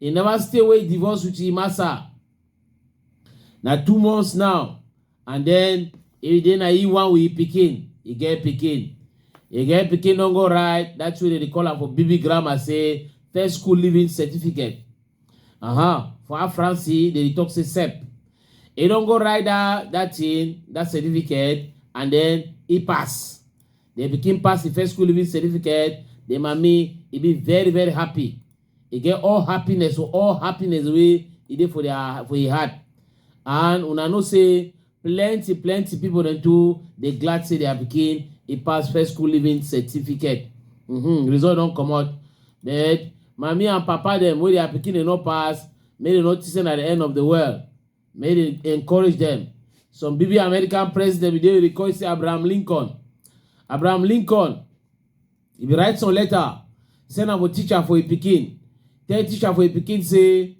E never stay wey e divorce with im massa. Na two months now and den e dey na im one with im pikin. E get pikin. E get pikin don go write dat thing wey dem dey call am for BB grammar say first school leaving certificate. Uh-huh. For our France, dem dey talk say CEP. E don go write dat dat thing, dat certificate and den e pass. The pikin pass im first school leaving certificate, the mummy e be very very happy. e get all happiness for all happiness wey e dey for their for e heart and una know say plenty plenty people dem too dey glad say their pikin e pass first school living certificate mm -hmm. result don comot but mami and papa dem wey their pikin dey no pass make dem no think say na the end of the world make dem encourage dem some bb american president bin dey record say abraham lincoln abraham lincoln He bin write some letter, send am for teacher for im pikin, tell teacher for im pikin say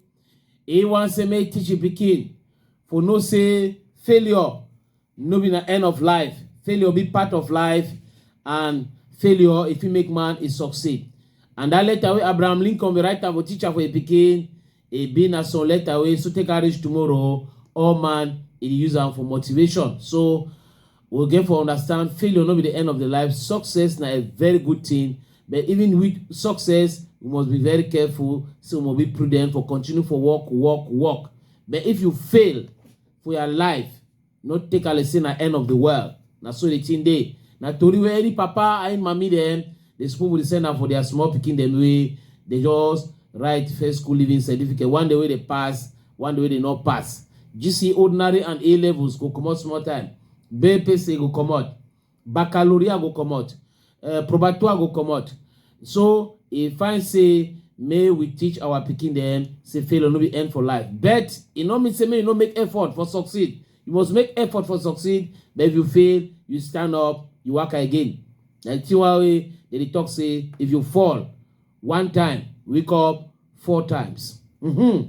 he wan say make teach im pikin for know say failure no be na end of life, failure be part of life and failure e fit make man e succeed. And dat letter wey Abraham Lincoln bin write am for teacher for im pikin, E be na some letter wey so take am reach tomorrow o, all man e dey use am for motivation. So we get for understand failure no be the end of the life, success na a very good thing but even with success we must be very careful say we must be prudent for continue for work work work but if you fail for your life no take ale say na end of the world na so the thing dey na tori wey any papa and mami dem dey spoon with send am for their small pikin dem wey dey just write first school living certificate one day wey dey pass one day wey dey no pass gc ordinary and a levels go comot small time bpc go comot baccalaureate go comot uh, probatoire go comot so e find say may we teach our pikin dem say failure no be end for life but e no mean say make you no make effort for succeed you must make effort for succeed but if you fail you stand up you work again na the one wey dem dey talk say if you fall one time wake up four times. Mm-hmm.